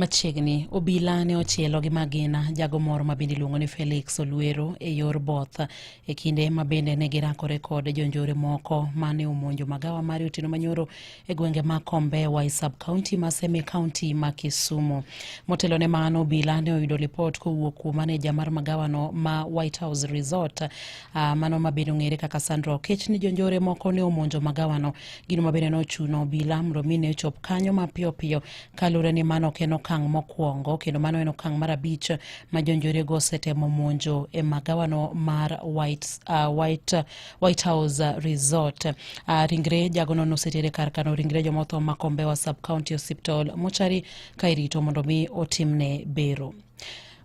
Machiegni obila ne ochielo gi magina jago moro ma bende iluongo ni Felix Olwero e yor both e kinde ma bende ne girakore kod jonjore moko ma ne omonjo magawa mare otieno manyoro e gwenge ma Kombewa e sub county ma Seme county ma Kisumu. Motelo ne mano, obila ne oyudo lipot kowuok kuom maneja mar magawano ma White House Resort uh, mano ma bende ong'ere kaka Sandra Okech ni jonjore moko ne omonjo magawano. Gino ma bende nochuno obila mondo mi ne ochop kanyo mapiyo piyo kaluwore ni mano ok en okang' mokwongo kendo mano en okang' mar abich ma jonjorego osetemo monjo e magawano mar White, uh, White White House uh, Resort. Uh, ringre jagono nosetere kar kano ringre joma otho ma Kombewa Sub County Hospital mochari ka irito mondo mi otimne bero.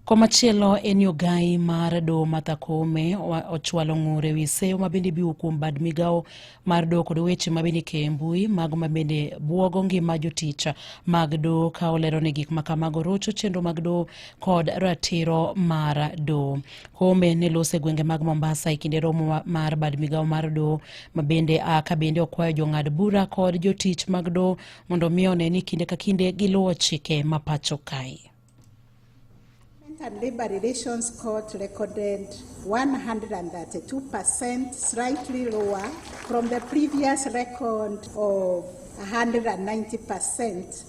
Komachielo en yo gai mar doho Martha Koome ochwalo ng'ure wi seyo ma bende biwo kuom bad migawo mar doho kod weche ma bende ikeyo e mbui mago ma bende bwogo ngima jotich mag doho ka olero ni gik ma kamago rocho chenro mag doho kod ratiro mar doho. Kombe ne lose gwenge mag Mombasa e kinde romo mar bad migawo mar doho ma bende a ka bende okwayo jong'ad bura kod jotich mag doho mondo mi one ni kinde ka kinde giluwo chike ma pacho kae. and Labor Relations Court recorded 132%, slightly lower from the previous record of 190%.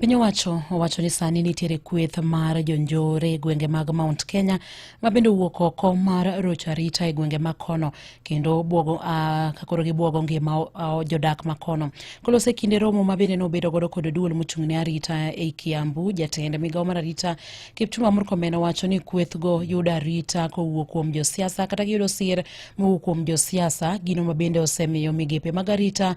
Piny owacho owacho ni sani nitiere kweth mar jonjore e gwenge mag Mount Kenya ma bende owuok oko mar rocho arita e gwenge ma kono kendo bwogo uh, kakoro gibwogo ngima uh, jodak ma kono. Kolose kinde romo ma bende nobedo godo kod duol mochung' ne arita e Kiambu, jatend migawo mar arita Kipchumba Murkomen owacho ni kwethgo yudo arita kowuok kuom josiasa kata giyudo sir mowuok kuom josiasa, gino ma bende osemiyo migepe mag arita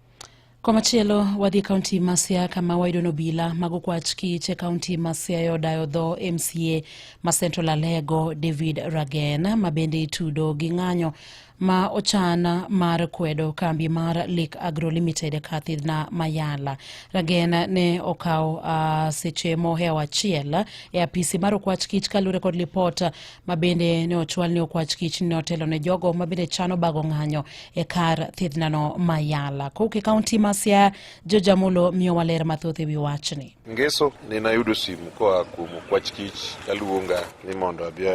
Komachielo wadhi kaunti ma Siaya kama wayudo nobila mago kwach kich e kaunti ma Siaya odayo dho MCA ma Central Alego David Ragen ma bende itudo gi ng'anyo ma ochan mar kwedo kambi mar Lake Agro Limited e Kathidna Mayala. Ragen ne okawo uh, seche mohewo achiel e apisi mar okwach kich kaluwore kod lipot ma bende ne ochwal ni okwach kich ne otelo ne jogo ma bende chano bago ng'anyo e kar thiedhnano ma Yala. Kowuok e kaunti ma Siaya, George Amulo miyo waler mathoth e wi wachni. Ngeso ne nayudo simu koa kuom okwach kich kaluonga ni mondo abi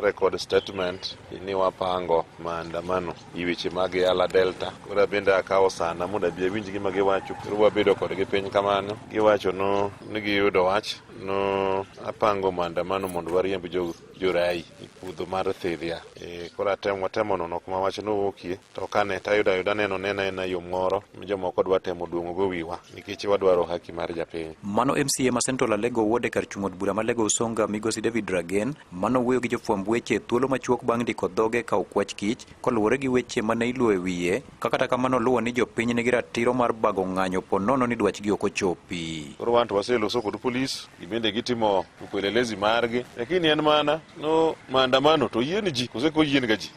record statement ni wapango maandamano gi weche mag Yala Delta. Koro abende akawo sana mondo abi awinj gima giwacho. Koro wabedo kodgi piny kamano. Giwacho no ni giyudo wach No apango maandamano mondo wariemb jo, jorai e puodho mar Thidhia. E, koro atemo watemo nono kuma wach nowuokie to kane tayudo ayuda neno nena ena yo moro ma jomoko dwa temo duong'ogo wiwa nikech wadwaro haki mar japiny. Mano MCA ma Central Alego Ward e kar chung' od bura ma Alego Usonga Migosi David Ragen mano wuoyo gi jofwamb weche thuolo machuok bang' ndiko dhoge ka okwach kich koluwore gi weche mane iluwo e wiye ka kata kamano luwo ni jopiny nigi ratiro mar bago ng'anyo po nono ni dwachgi ok ochopi. Koro wan to waseloso kod polis, gibende gitimo upelelezi margi, lakini en mana no maandamano to yien ji kose ko yien ga ji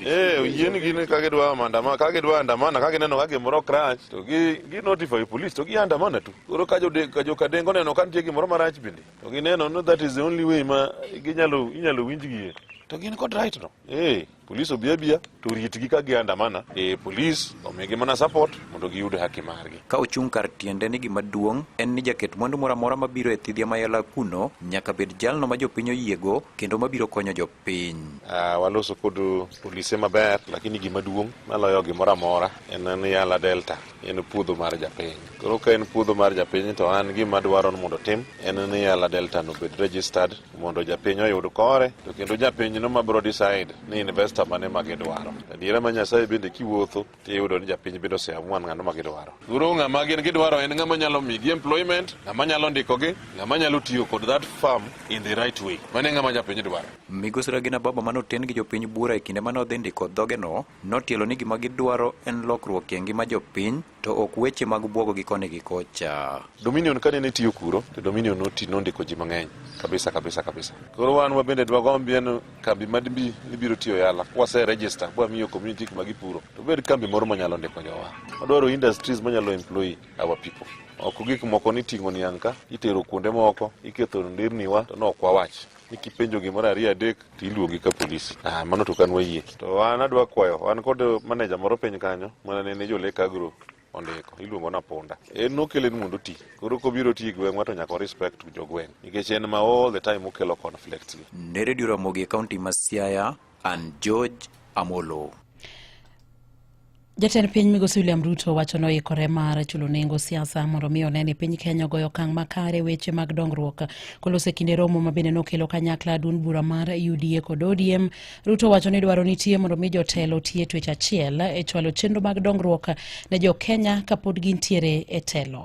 Eh, yien gi ni kage dwa maandamano kage dwa andamana kage neno kage moro crunch to gi gi notify police to gi andamana tu koro ka jo ka jo kadengo neno ka nitie gimoro marach bende to gi neno no that is the only way ma ginyalo inyalo winjgie to gin kod right no eh Polis obi abiya to ritgi ka giandamana e polis omigi mana support mondo giyud haki margi. Ka ochung' kar tiende ni gima duong' en ni jaket mwandu moro amora mabiro e thidhia mayala kuno nyaka bed jalno ma jopiny oyiego kendo mabiro konyo jopiny. Uh, waloso kod polise maber lakini gima duong' maloyo gimoro amora en ni Yala Delta en puodho mar japiny. Koro ka en puodho mar japiny to an gima dwaro ni mondo tim en ni Yala Delta no bed registered mondo japiny oyud kore to kendo japiny no mabiro decide ni investor mane ma gidwaro adiera ma nyasaye bende kiwuotho tiyudo ni japiny bende oseamua ng'ano ma gidwaro guru ng'ama gin gidwaro en ng'ama nyalo migi employment ng'ama nyalo ndikogi ng'ama nyalo tiyo kod that farm in the right way mane ng'ama japiny dwaro migosi Regina Baba mane oten gi jopiny bura e kinde mane odhi ndiko dhogeno notielo ni gima gidwaro en lokruok e ngima jopiny to ok weche mag bwogo gi koni gi kocha. Dominion kane ne tiyo kuro to Dominion noti nondiko ji mang'eny kabisa kabisa kabisa. Koro wan wabende dwagombi en kambi madbi ibiro tiyo yala kwase register bwa miyo community kuma gipuro to bed kambi moro manyalo ndiko jowa. Wadwaro industries manyalo employ our people. Ok gik moko ni ting'o niang' ka itero kuonde moko iketho ndirniwa to ne ok wawach. ni kipenjo gimoro ariyo adek to iluongi ka polisi ah, mano to kan wayie to an adwa kwayo an kod maneja moro piny kanyo mana nene jolek agro ondiko iluongo na punda en nokele ni mondo oti koro kobiro ti gweng'wa to nyaka respect jogweng' nikech en ma all the time okelo conflict ne redio ramogi e kaunti ma siaya an george amolo Jatend piny migosi William Ruto wacho noikore mar chulo nengo siasa mondo mi one ni piny Kenya ogoyo okang' makare weche mag dongruok. Kolose kinde romo ma bende nokelo kanyakla duond bura mar UDA kod ODM, Ruto wacho ni dwaro nitie mondo mi jotelo tie twech achiel e chwalo chenro mag dongruok ne jo Kenya kapod gintiere e telo.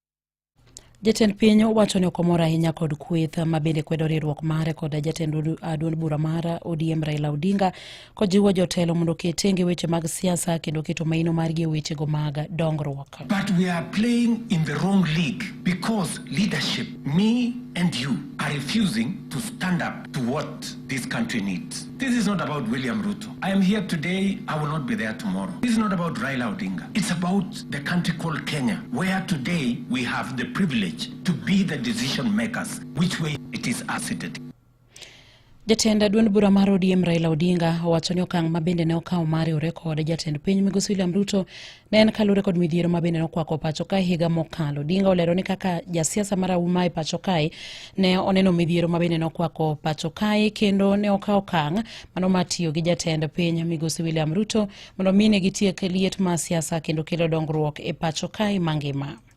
Jatend piny owacho ni ok omor ahinya kod kweth ma bende kwedo riwruok mare kod jatend duond bura mar ODM Raila Odinga kojiwo jotelo mondo oket tenge weche mag siasa kendo keto maino margi e wechego mag dongruok. But we are playing in the wrong league because leadership me and you are refusing to stand up to what this country needs. This is not about William Ruto. I am here today, I will not be there tomorrow. This is not about Raila Odinga. It's about the country called Kenya, where today we have the privilege to be the decision makers, which way it is asset. Jatend duond bura mar ODM Raila Odinga owacho ni okang' ma bende ne okawo mar riwore kod jatend piny Migosi William Ruto Ne en kalure kod midhiero ma bende nokwako pacho kae higa mokalo. Dinga olero ni kaka jasiasa mar Auma e pacho kae ne oneno midhiero ma bende nokwako pacho kae kendo ne okawo okang' mano mar tiyo gi jatend piny Migosi William Ruto mondo mine gitiek liet mar siasa kendo kelo dongruok e pacho kae mangima.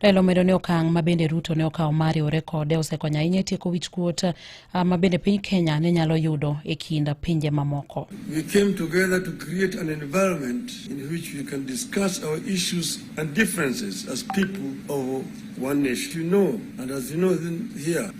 Raila omedo ni okang' ma bende Ruto ne okawo mar riwore kode osekonyo ahinya e tieko wich kuot ah, ma bende piny Kenya ne nyalo yudo e kind pinje mamoko. We came together to create an environment in which we can discuss our issues and differences as people of one nation. You know, and as you know here,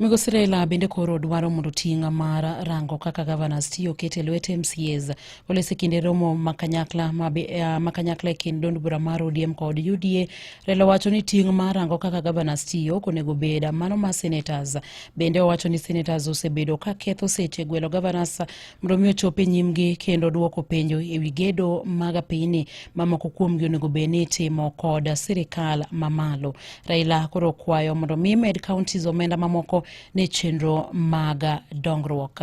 Migosi Raila bende koro dwaro mondo ting' mar rango kaka governors tiyo ket e lwet MCAs oles e kinde romo ma kanyakla ma eh, kanyakla e kind dond bura mar ODM kod UDA. Raila wacho ni ting' mar rango kaka governors tiyo ok onego bed mano ma senators. Bende owacho ni senators osebedo ka ketho seche gwelo governors mondo mi ochop e nyimgi kendo duoko penjo e wi gedo mag pinyni mamoko kuomgi onego bed ni itimo kod sirikal mamalo. Raila koro okwayo mondo mi med counties omenda mamoko ne chenro mag dongruok.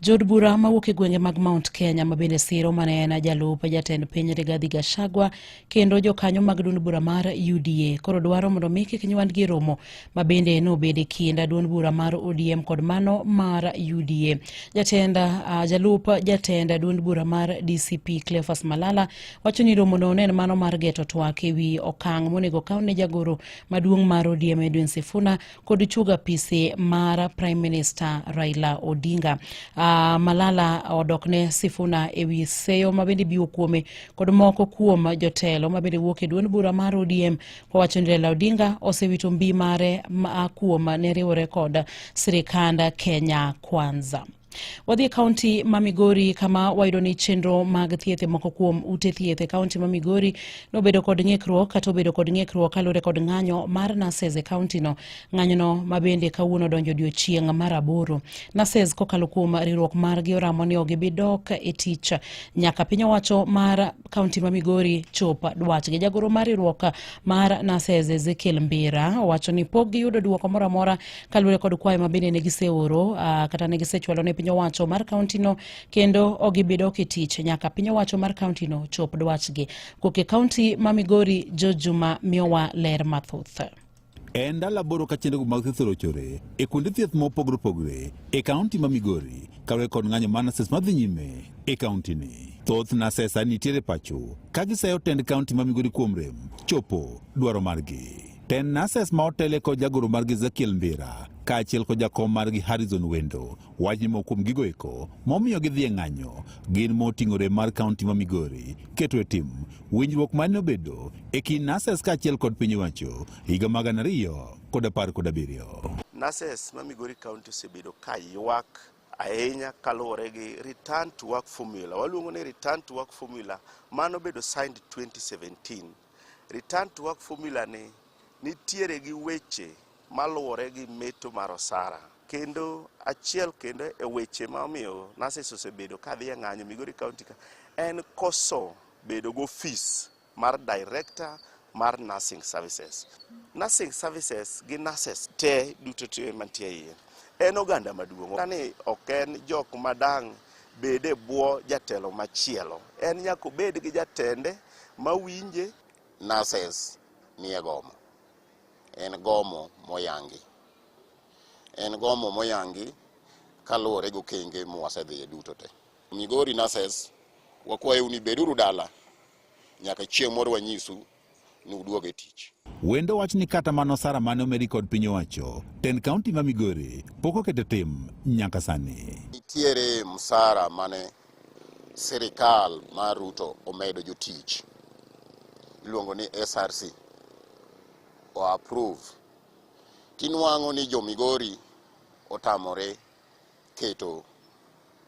Jood bura mawuok e gwenge mag Mount Kenya ma bende siro mane en jalup jatend piny Rigathi Gachagua kendo jokanyo mag duond bura mar UDA koro dwaro mondo mi kik nywandgi e romo ma bende nobed e kind duond bura mar ODM kod mano mar UDA. Jatend uh, jalup jatend duond bura mar DCP Cleophas Malala wacho ni romono ne en mano mar geto twak e wi okang' monego kaw ne jagoro maduong' mar ODM Edwin Sifuna kod chuog apise mar Prime Minister Raila Odinga. Uh, Malala odok ne Sifuna e wi seyo ma bende biwo kuome kod moko kuom jotelo ma bende wuok e duond bura mar ODM kowacho ni Raila Odinga osewito mbi mare ma kuom ne riwore kod sirikand Kenya Kwanza. Wadhi e kaunti ma Migori kama wayudo ni chenro mag thieth e moko kuom ute thieth e kaunti ma Migori nobedo kod ng'ikruok kata obedo kod ng'ikruok kaluwore kod ng'anyo mar nurses e kauntino. Ng'anyono ma bende kawuono donjo odiechieng' mar aboro. Nurses kokalo kuom riwruok margi oramo ni ok gibi dok e tich nyaka piny owacho mar kaunti ma migori chopa dwachgi jagoro mar riwruok mar nases ezekiel mbira owacho ni pok giyudo dwoko moro amora kaluwore kod kwayo ma bende ne giseoro uh, kata ne gisechwalo ne piny owacho mar kauntino kendo ogibido kitich nyaka piny owacho mar kauntino chop dwachgi koke kaunti ma migori jojuma miyowa ler mathoth E ndalo aboro ka chenrogo mag thieth orochore e kuonde thieth mopogore opogore e kaunti ma Migori kawe kod ng'anyo mar nases madhi nyime e kauntini. Thoth nasesa nitiere pacho ka gisayo tend kaunti ma Migori kuom rem chopo dwaro margi. Tend nases ma otele kod jagoro margi Ezekiel Mbira kaachiel kod jakom margi Harrison Wendo Wach ni moko kuom gigo eko momiyo gidhi e ng'anyo gin moting'ore mar kaunti ma Migori keto e tim winjruok mane obedo e kind NASES kaachiel kod piny owacho higa mag gana ariyo kod apar kod abiriyo. NASES ma Migori kaunti osebedo ka ywak ahinya kaluwore gi return to work formula. Waluongo ni return to work formula mano obedo signed 2017. Return to work formula ni nitiere gi weche maluwore gi meto mar osara kendo achiel kendo e weche ma omiyo nurses osebedo ka dhi e ng'anyo Migori County ka en koso bedo gi ofis mar director mar nursing services. Nursing services gi nurses te duto te mantie iye en oganda maduong'. Kani ok en jok madang' bed e bwo jatelo machielo, en nyaka obed gi jatende mawinje. Nurses nie gomo. en gomo moyangi. En gomo moyangi kaluwore gi okenge mwasedhiye duto te. Migori nurses, wakwayou ni beduru dala nyaka chieng' moro wanyisu ni uduog e tich. Wendo wach ni kata mana osara mane omedi kod piny owacho, tend kaunti ma Migori pok oketo e tim nyaka sani. Nitiere msara mane Sirikal mar Ruto omedo jotich iluongo ni SRC o approve tinwang'o ni jo Migori otamore keto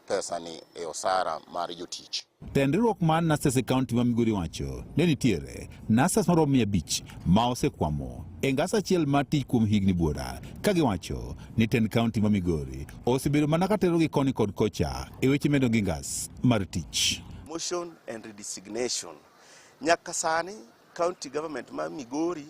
pesani e osara mar jotich. Tend riwruok mar Nurses e kaunti ma Migori wacho ne nitiere nurses maromo mia abich ma osekwamo e ngas achiel mar tich kuom higni buora ka giwacho ni tend kaunti ma Migori osebedo mana katerogi koni kod kocha e weche medo gi ngas mar tich. Motion and redesignation. Nyaka sani county government ma Migori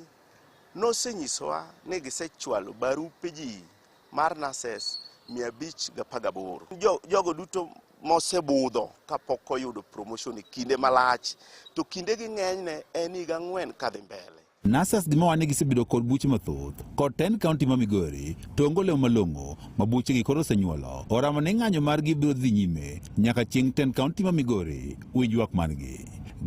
nosenyisowa ni gisechwalo barupe ji mar nurses 518. Jo, jogo duto mosebudho kapok oyudo promotion e kinde malach to kindegi ng'enyne en higa ang'wen kadhi mbele. Nurses gi mawane gisebedo kod buche mathoth kod ten kaunti ma Migori to onge olemo malong'o ma buchegi koro osenyuolo. Oramo ni ng'anyo margi biro dhi nyime nyaka chieng' ten kaunti ma Migori winj ywak margi.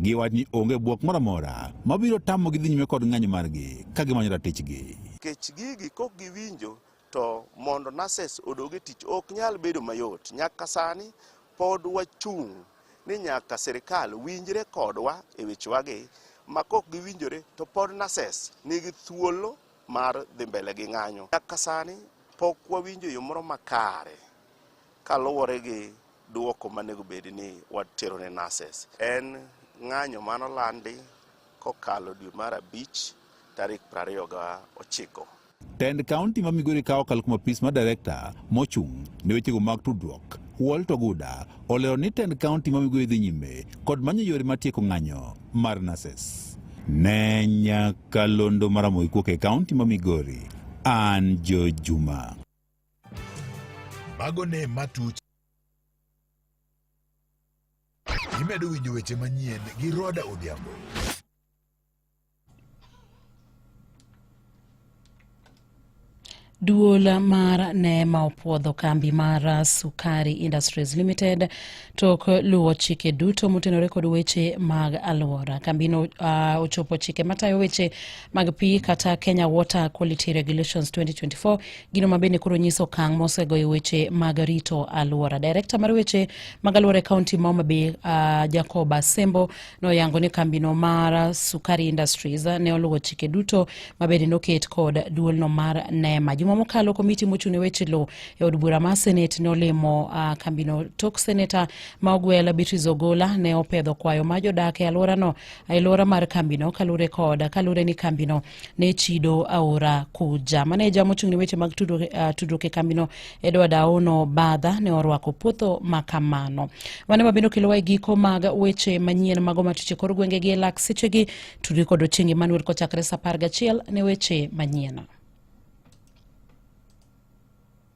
Giwach ni onge bwok moro amora mabiro tamogi dhi nyime kod ng'anyo margi ka gimanyo ratichgi. Kech gigi kok giwinjo To mondo nurses odog e tich ok nyal bedo mayot. Nyaka sani pod wachung' ni nyaka sirkal winjre kodwa e wechewagi ma kok giwinjore to pod nurses nigi thuolo mar dhi mbele gi ng'anyo. Nyaka sani pok wawinjo yo moro makare kaluwore gi duoko manego bed ni watero ne nurses. En ng'anyo manolandi kokalo dwe mar abich tarik 29. Tend kaunti ma Migori kawo kal kuom apis ma direkta mochung' ne wechego mag tudruok Walt Oguda olero ni tend kaunti ma Migori dhi nyime kod manyo yore ma tieko ng'anyo mar nases. Ne nyaka londo maramogi kuok e kaunti ma Migori, an Jo Juma. Mago ne matuch. Imedo winjo weche manyien gi Roda Odhiambo. Duol mar Neema opwodho kambi mar Sukari Industries Limited tok luwo chike duto motenore kod weche mag alwora. Kambino uh, ochopo chike matayo weche mag pi kata Kenya Water Quality Regulations 2024, gino ma bende koro nyiso okang' mosegoyo weche mag rito alwora. Direkta mar weche mag alwora e kaunti ma Homa Bay uh, Jacob Asembo Noyango ni kambino mar Sukari Industries ne oluwo chike duto mabende noket kod duolno mar NEMA. Juma mokalo komiti mochung' e weche lowo e od bura mar Senate ne olimo uh, kambino. Tok seneta ma ogwel Beatrice Ogola ne opedho kwayo ma jodak e alworano e alwora mar kambino kalure kod kalure ni kambino ne chido aora kuja maneja mochung' ne weche mag tudruok uh, tudruok e kambino edward aono badha ne orwako puotho ma kamano mane mabende okelowa e giko mag weche manyien mago matuche kor gwenge gi e lak sechegi tudri kod ochieng' emmanuel kochakre sa apar gachiel ne weche manyien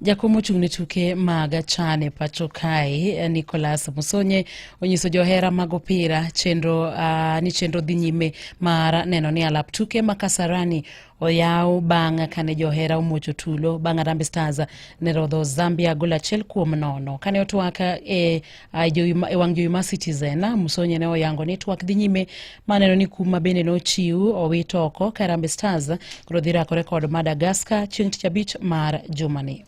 jakom ochung' ne tuke mag chan e pacho kae nicolas musonye onyiso johera mag opira chenro uh, ni chenro dhi nyime mar neno ni alap tuke ma kasarani oyaw bang' kane johera omuocho tulo bang' Harambee Stars ne rodho Zambia gol achiel kuom nono. Kane otwak e, e wang' jowi mar Citizen, Musonye ne oyango ni twak dhi nyime maneno ni kum ma bende nochiw owit oko ka Harambee Stars koro dhi rakore kod Madagascar chieng' tich abich mar jumani.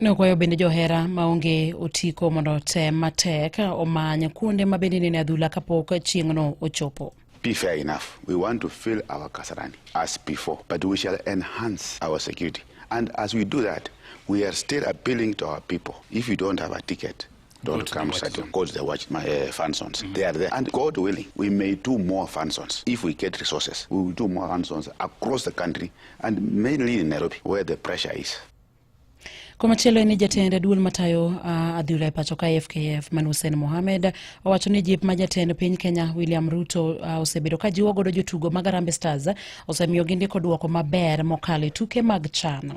Nokwayo bende johera maonge otiko mondo otem matek omany kuonde ma bende nene adhula kapok chieng'no ochopo. be fair enough. We want to fill our Kasarani as before, but we shall enhance our security. And as we do that, we are still appealing to our people. If you don't have a ticket, Don't Good come such because they watch my uh, functions. Mm -hmm. They are there. And God willing, we may do more functions. If we get resources, we will do more functions across the country and mainly in Nairobi where the pressure is. Komachielo en ni jatend duol matayo uh, adhula e pacho ka FKF man Hussein Mohamed owacho ni jip ma jatend piny Kenya William Ruto uh, osebedo ka jiwo godo jotugo mag Harambee Stars osemiyo gindiko duoko maber mokalo e tuke mag chano.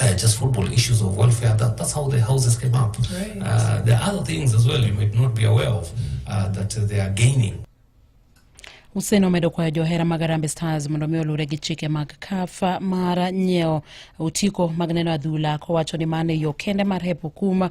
uh, just football issues of welfare. That, that's how the houses came up. Right. Uh, there are other things as well you might not be aware of uh, that they are gaining. Hussein omedo kwayo johera mag Harambee Stars mondo mi oluwre gi chike mag CAF mar nyiewo otiko mag neno adhula kowacho ni mano e yo kende mar hepo kuma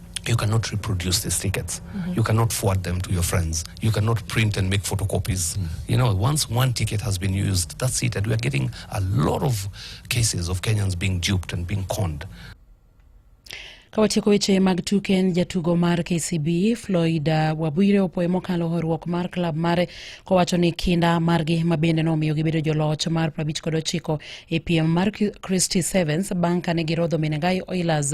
you cannot reproduce these tickets. Mm-hmm. You cannot forward them to your friends. You cannot print and make photocopies. Mm-hmm. You know, once one ticket has been used, that's it. And we are getting a lot of cases of Kenyans being duped and being conned. Kawatieko weche mag tuke en jatugo mar KCB Floyd uh, Wabwire opoye mokalo horuok mar klab mare kowacho ni kinda margi ma bende nomiyo gibedo joloch mar 59 e piem mar Christy Sevens bang' kane girodho Menengai Oilers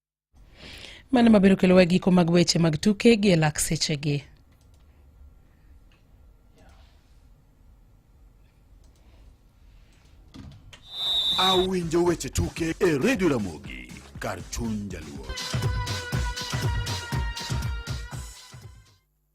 Mano mabiro kelowa giko mag weche mag tuke gi e lak sechegi. Awinjo weche tuke e redio Ramogi kar chuny jaluo.